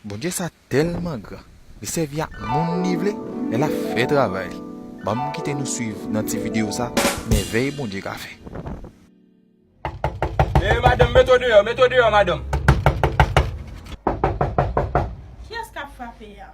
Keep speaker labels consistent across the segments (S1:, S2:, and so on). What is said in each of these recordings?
S1: Bondye sa tèlman gran li sèvi ak moun li vle lè lap fè travay li banm kite nou swiv nan ti video sa mèvèy Bondye ka fè.
S2: Eeh madanm met ou deyò met ou deyò madanm.
S3: Kiyès kap frape a?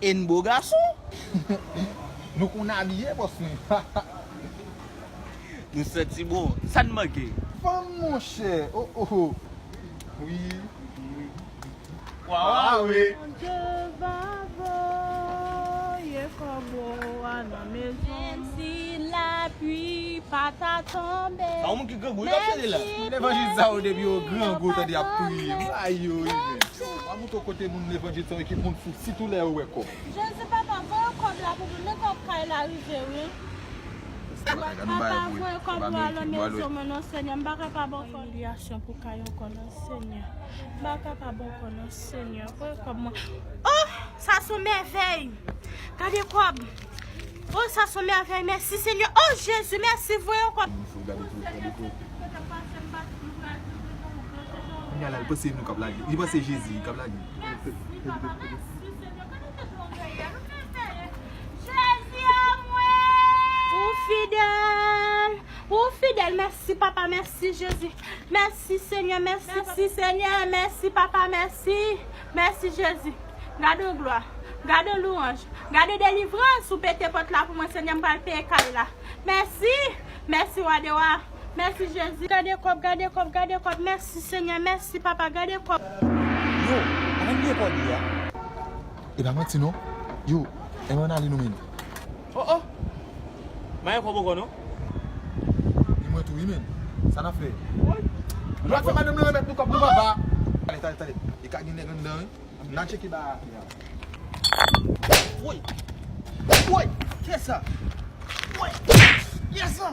S4: Yn beau garçon. Nou konn abiye boss mwen hahaha.
S2: Nou santi bon, sa n manke. Fanm monchè
S4: oh oh wi.
S2: Wawa wi. Bondye va
S3: voye kòbo a nan mezon. Menm si lapui pa ta tonbe. Sa yon moun ki grangou wi kap
S2: chante la. Tout levanjil sa
S4: yo depi yo grangou tande yap priye. Ayoy menm. Kouto kote moun levanjil son ekip moun fou sitou lè yo wè kòb. Jezi papa
S3: voye kob la pou nou men kob kay la rive wi. Papa voye kob lwa lan mezi mwen non senyè m paka pa bon fòm. Imilyasyon pou kay ankò non senyè m paka pa bon kò non senyè voye kob mwen oh sa son mèvèy gade kob. Oh sa son mèvèy mèsi senyè oh jezi mèsi vwe
S4: ankò.
S3: Ou fidèl ou fidèl mèsi papa mèsi jezi mèsi senyè mèsi senyè mèsi papa mèsi. Mèsi Jezi. Gade yon glwa. Gade yon louanj. Gade yon delivrans ou pete pòt la pou mwen Senyè m pral peye kay la. Mèsi! Mèsi Wa de Wa. Mèsi Jezi. Gade kòb, gade kòb, gade kòb. Mèsi Senyè. Mèsi Papa. Gade kòb. Yo,
S4: ann bliye kòb li a. E pa manti non. Yo, ann ale nou menm. Oh oh!
S2: Mayo pa boko non.
S4: Gen mwen tou wi menn. Sa nap fè? Woy! Nou pral fè madanm lan remèt nou kòb nou papa. Tande tande tande. Li ka gen nèg anndan wi. Nan tcheke ba a fia. Woy! Woy! Kiyès sa? Woy! Kiyès sa?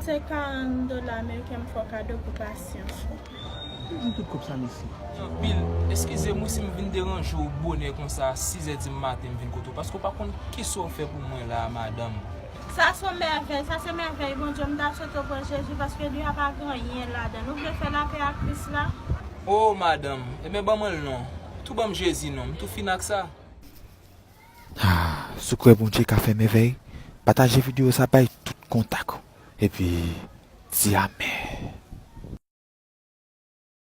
S2: Se 40
S3: dola ameriken m fè kado pou pasyans ou. Ou gen tout
S4: kòb sa mesi. Mesi anpil.
S2: Eskize mwen si m vin deranje w bonè konsa 6 zè di maten m vin kote w paske w pa konn kisa w fè pou mwen la a madanm. Sa son
S3: mèvèy, sa se mèvèy Bondye, m ta swete w pran Jezi paske li a pa gen anyen ladann. Ou vle fè lapè ak Kris la? Oh madanm,
S2: enben ban mwen l non. Tou ban m Jezi non, m tou fin ak sa. Ahh
S1: sekrè Bondye ka fè mèvèy pataje video sa bay tout kontak ou epi di amen.